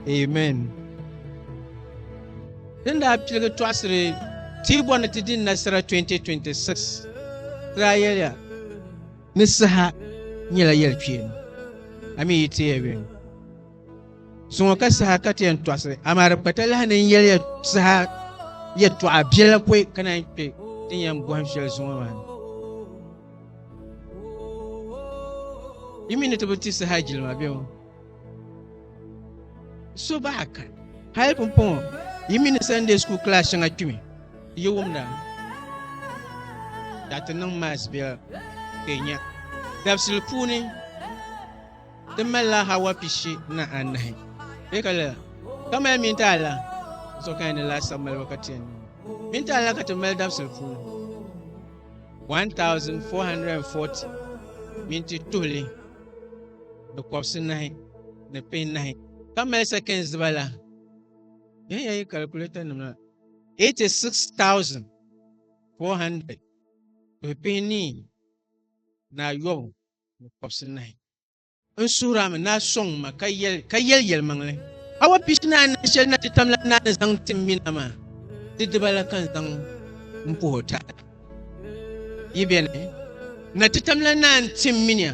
Amen. Din daa piligi tɔɣisiri ti bɔ ni ti di nasara 2026 daa yɛliya ni saha nyɛla yɛli kpeeni a mi yi teya yɛn suŋɔ ka saha ka ti yɛn tɔɣisiri amaa di kpata lahi ni yɛliya saha yɛtɔɣa biɛla pɔi ka naan kpe din yɛn bɔhim shɛli zuŋɔ maa ni yi mi ni ti bi ti saha jilima bɛŋɔ So bahi ka hali pumpɔŋɔ yi mini Sunday school class shɛŋa kpimi yi wumda ka ti niŋ mass biɛla ka nya dabisili puuni ti malila hawa pishi na anahi bɛ ka lala ka mali mini ta ala so ka ni laasabu maliba ka tiɛn mini ta ala ka ti mali dabisili puuni 1440 minti tuhili ni kɔbisi nahi ni pin nahi ka mali seconds diba la yan ya yi calculator nima 86400 ni pin ni na yobu ni kɔbisi nahi n suhira mi na sɔŋ ma ka yɛli ka yɛli yɛli maŋli awa pishi na anahi shɛli na ti tam la na ni zaŋ tim mina ma ti diba la kan zaŋ n puhi o taada yi bɛni na ti tam la na n tim minia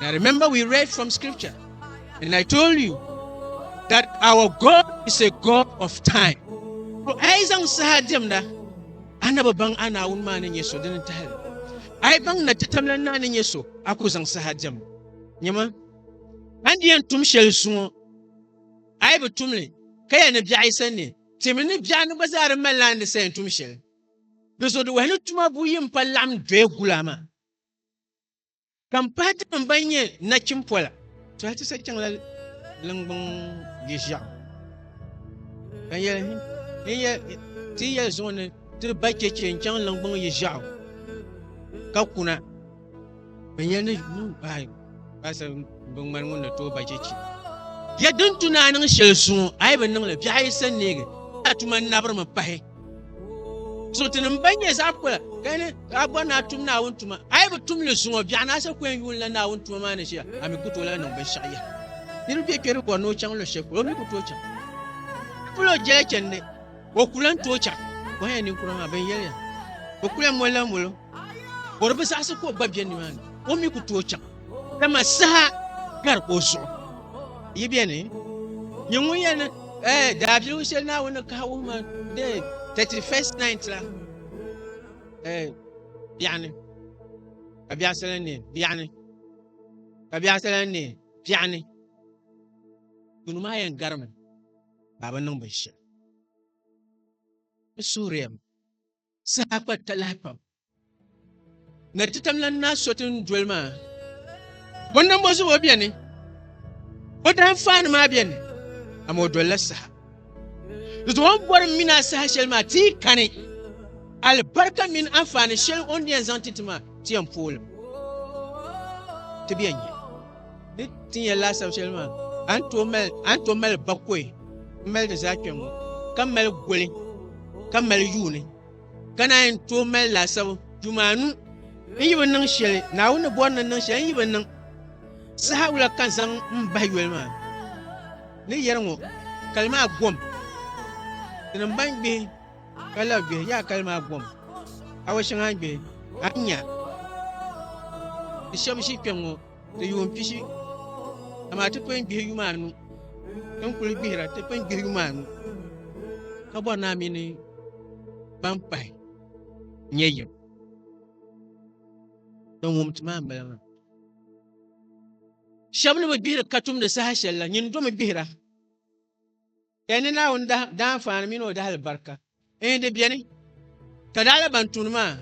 Now remember we read from scripture and I told you that our God is a God of time. Ko ai zang saha demda anaba bang ana un ma nin yeso din tahal. Ai bang na tatamla na nin yeso aku zang saha dem. Nyama andiyan tum shel zuŋo ai bi tumli ka ya ni biaɣi sanni timi ni biaɣi ni gba zaa di mali laandi sayin tum shel. Di zo di wahi ni tuma buyi n pa laɣim doya gula maa. Ka m pahi tinim ban nyɛ nachim pola. Tɔha ti sa chaŋla liŋgbuŋ yiʒiɛɣu. Ka n yɛli, n yɛ, ti yi yɛli zuɣu ni ti ba chɛchɛ n-chaŋ liŋgbuŋ yiʒiɛɣu ka kuna, n yɛli ni yuun pahi paasa biŋmani ŋun ni tooi ba chɛchɛ. Yɛ din tu ni a niŋ shɛli zuŋɔ, a yi bi niŋ li, biɛɣu yi sa neegi, a tuma nabirimi pahi. suhutinim ban nyɛ zaɣ kura ka ni ka bɔri ni a tum naawuni tuma a yi bi tum li zuŋɔ biɛɣu ni a sa kɔɛn yuun la naawuni tuma maa ni ʒiya a mi ku tooi la niŋ binshɛɣu yaha niriba bɛ kpɛri bɔri ni o chaŋ luɣushɛli polo o mi ku tooi chaŋ polo jɛla chɛndi o ku lan tooi chaŋ bɔhɛ ninkura maa bin yɛliya o ku lan moli la molo bɔri bi zaɣisi ka o gba bɛ nimaani o mi ku tooi chaŋ dama saha gari ka o zuɣu yi beni nyɛ ŋun yɛli eh, daabiligu shɛli naawuni kahi wuhima de 31st night la eh, biɛɣuni ka biɛɣu sala ni biɛɣuni ka biɛɣu sala ni biɛɣuni duni maa yɛn garimi ka bi niŋ binshɛli bi suhuriyam saha kpa talahi pam Na ti tam lan na so tin doli maa. Bo nambo zuɣu o beni. Bo dahin faani maa beni. Amoo dolila saha. Di zuɣu on bori mini a saha shɛli maa tii kani. Alibarika mini anfaani shɛli on yɛn zaŋ ti ti maa ti yɛn poolim. Ti bɛ yɛn nyɛ. Ni ti yɛn laasabu shɛli maa an to mali an to mali bakoi n mali di zaa kpɛŋŋo ka mali goli ka mali yuuni Ka naa yɛn tooi mali laasabu jumaanu n yi bi niŋ shɛli Naawuni ni bɔri ni niŋ shɛli n yi bi niŋ saha wula ka zaŋ n bahi yoli maa ni yɛri ŋɔ kali maa gom tinim ban gbihi ka la gbihi yaa kali maa gom awa shɛŋa gbihi a nya di shɛbi ʒi kpɛŋ ŋɔ di yuun pishi, amaa ti pun gbihi yuma anu. Ti ni kuli gbihira, ti pun gbihi yuma anu ka bɔri naa mi ni ban pahi nyɛ yim. Din wum ti maa m-bala maa. Shɛba ni bi gbihiri katumdi saha shɛli la, nyini domi gbihira. N ni Naawuni daanfaani mini o dahalibarika n-yi di beni, ka daɣila ban tuuni maa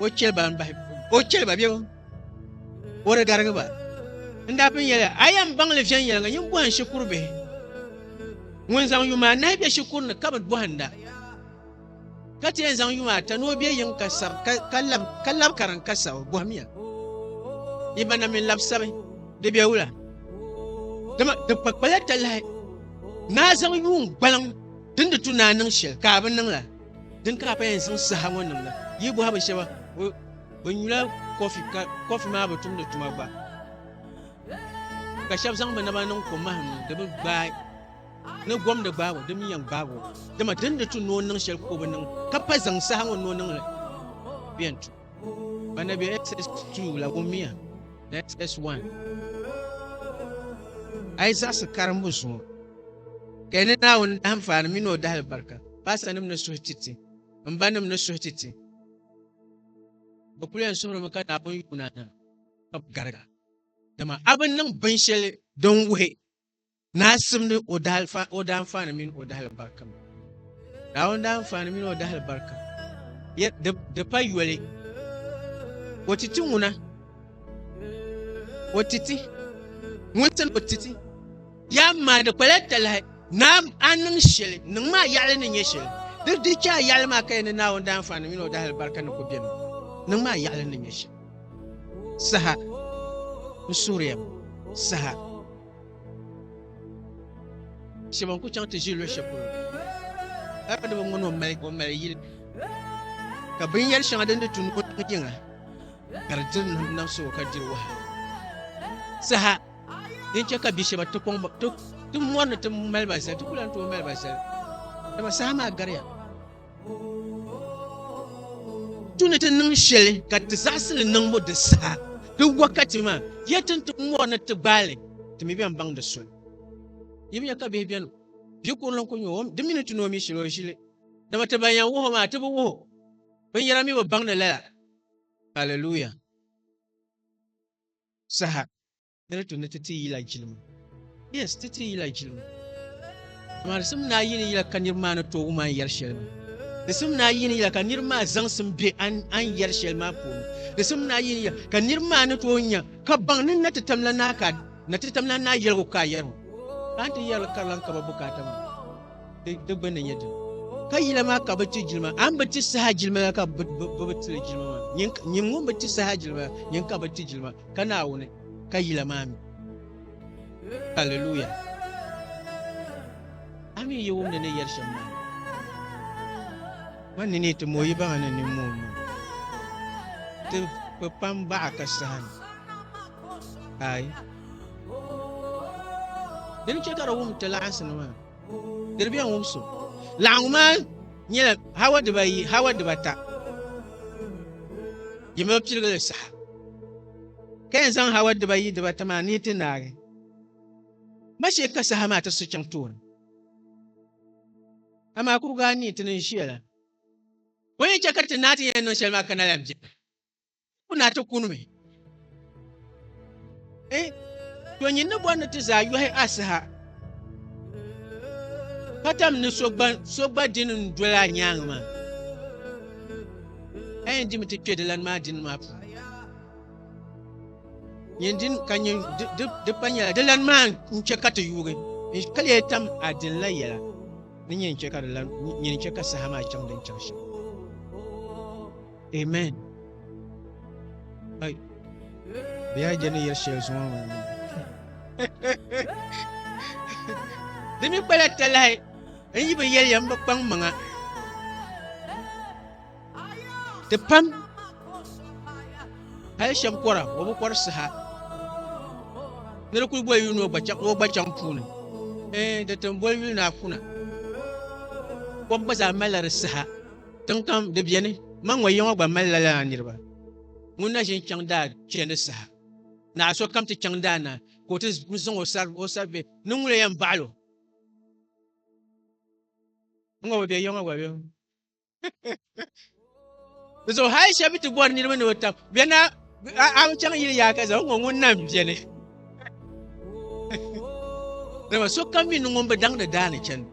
o cheli ba m-bahi o cheli ba bebo, o di garigi ba. N daa pun yɛli a yɛn baŋ li viɛnyɛliŋga nyin bɔhim shikuru bihi, ŋun zaŋ yuma anahi be shikuru ni ka bi bɔhinda. ka ti yɛn zaŋ yuŋ ata ni o bɛ yiŋ ka sab ka lab ka lab kariŋ ka sab o bɔhimiya yi ba na mini lab sabi di bɛ wula dama di kpakpala ta lahi naa zaŋ yuŋ gbaliŋ din di tu naa niŋ shɛli ka a bi niŋ la din ka a pa yɛn zaŋ saha ŋɔ niŋ la yi bɔha bi shɛba bi nyula kɔfi ka kɔfi maa bi tumdi tuma gba ka shɛba zaŋ bi naba niŋ kom mahim ni di bi gbaai Ni gom ni gbaag o, di mi yɛn gbaag o, dama di ni di tu ni o niŋ shɛli ka o bi niŋ, ka pa zaŋ saha ŋɔ ni o niŋ li bɛ yɛn tu. Ba na bɛ SS2 la wummiya ni SS1. A yi zaɣisi karimbu zuŋɔ, ka yi ni Naawuni dahinfaani mini o dahilibarika, paasitanim ni suhi ti ti, m banim ni suhi ti ti, bɛ kul yɛn suhirimi ka Naawuni yuuna na ka bɛ gariga, dama a bi niŋ binshɛli din wuhi Naa simdi o daanfaani mini o dahali barika mi. Naawuni daanfaani mini o dahali barika di pa yoli. O titi ŋuna o titi ŋun tin o titi yaa maa di kpala talahi naa a niŋ shɛli niŋ maa yaɣali ni nyɛ shɛli di di chɛ a yaɣali maa ka yɛn ni naawuni daanfaani mini o dahali barika ni ku bɛmi niŋ maa yaɣali ni nyɛ shɛli saha n suuriya saha Shɛba n-ku chaŋ ti ʒi luɣ shɛli polo aadama ŋɔ ni o mali o mali yili ka binyɛr shɛŋa din di tu ni o tiŋ yiŋa ka di diri nam nam so ka diri waha saha din chɛ ka bi shɛba ti kɔŋ ti mɔri ni ti mali ba zali ti ku lan tooi mali ba zali dama saha maa gariya Tu ni ti niŋ shɛli ka ti zaɣisili niŋbu di saha di wakati maa, ya tin ti mɔri ni ti gbaali, ti mi bɛn baŋ di soli. Yi bi nya ka bihi bɛni bi kurili n-ku nya o, di mi ni ti ni o mi shili o ʒili, dama ti ban yɛn wuhi o maa ti bi wuhi o, binyɛra mi bi baŋdi lala. Hallelujah! Saha. Di ni tu ni ti ti yila jilima. Yes, ti ti yila jilima. Amaa di sim ni a yini yila ka niriba maa ni tooi wum a ni yɛri shɛli maa. Di sim ni a yini yila ka niriba maa zaŋsim be a ni yɛri shɛli maa puuni. Di sim ni a yini yila ka niriba maa ni tooi nya ka baŋ ni na ti tam la naa ka na ti tam la naa yɛligu ka a yɛri ŋɔ. Ka a ni ti yɛri li karilan ka ba bukaata maa di di gbunni nyɛ din. Ka yila maa ka bi ti jilima a ni bi ti saha jilima la ka bi bi ti li jilima maa. Nyin nyin ŋun bi ti saha jilima la nyin ka bi ti jilima. ka Naawuni, ka yila maa mi. Haleluya! A mi yi wum ni ni yɛri shɛm maa, man ni ni ti mo yi baŋa ni ni mo n niŋ ti kpi kpam baɣa ka saha ni. Aai. Dini chɛ ka di wum ti laɣinsi ni maa. Diri bɛn wum so. Laɣingu maa nyɛla hawa dibayi, hawa dibata. Yi mi piligili saha. Ka yɛn zaŋ hawa dibayi dibata maa ni yi ti naagi ma shee ka saha maa ti su chaŋ tooni. Amaa kurigu anii ti ni ʒiya la, o ni chɛ ka ti naa ti yɛn niŋ shɛli maa ka na lan beni, ti ku naa ti kunimi. Eh, to nyin ni bɔri ni ti zaa yɔhi asiha ka tam ni so gba dini n doli a nyaanga maa a yɛn dimi ti kpɛ dilani maa dini maa puuni nyin din ka nyin di pa nyɛla dilani maa n chɛ ka ti yuugi ka lee tam a dini la yɛla ni nyin chɛ ka saha maa chaŋ din chaŋ shɛm Amen. Ay. Biya jani yɛ shɛli zuŋɔ mi. Di mi kpala talahi n yi bi yɛliya n bi kpaŋ maŋa. Ti pam hali shɛm kɔra o bi kɔri saha ni di kuli boli yuli ni o gba chaŋ puuni ee di tin boli yuli ni a kuna kom gba zaa malila di saha Tiŋkam di beni, man ŋɔ yiŋɔ gba mali lala na niriba. Ŋun na ʒin chaŋ daa chɛ ni saha naɣa so kam ti chaŋ daa na ka o ti zaŋ o sari o sari be ni ŋun yɛn baɣil o. N ŋɔ bi be yiŋɔ gba bem. Di zuɣu hali shɛba ti bɔri niriba ni o tab bɛ na A bi chaŋ yili yaa ka zaŋ ŋɔ ŋun nam biɛni. Dama so kam mi ni ŋun bi daŋdi daani chani.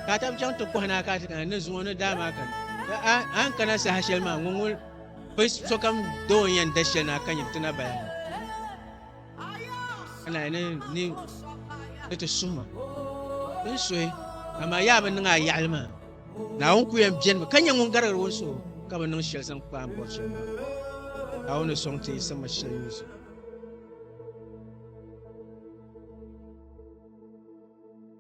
Ka ta bi chaŋ ti kɔhi naa ka ti kana ni zuŋɔ ni daa maa kana. A ni kana saha shɛli maa ŋun ŋun bi sokam doo yɛn da shɛli na ka nyɛ ti na bala. ka naa ni ni ni ti suhi ma bi ni suhi amaa yaa bi niŋ a yaɣali maa naawuni ku yɛn biɛni mi ka nyɛ ŋun garigiri ŋun suhu ka bi niŋ shɛli zaŋ kpaam bɔri shɛli maa naawuni soŋ ti yi sama shɛli ŋun zuɣu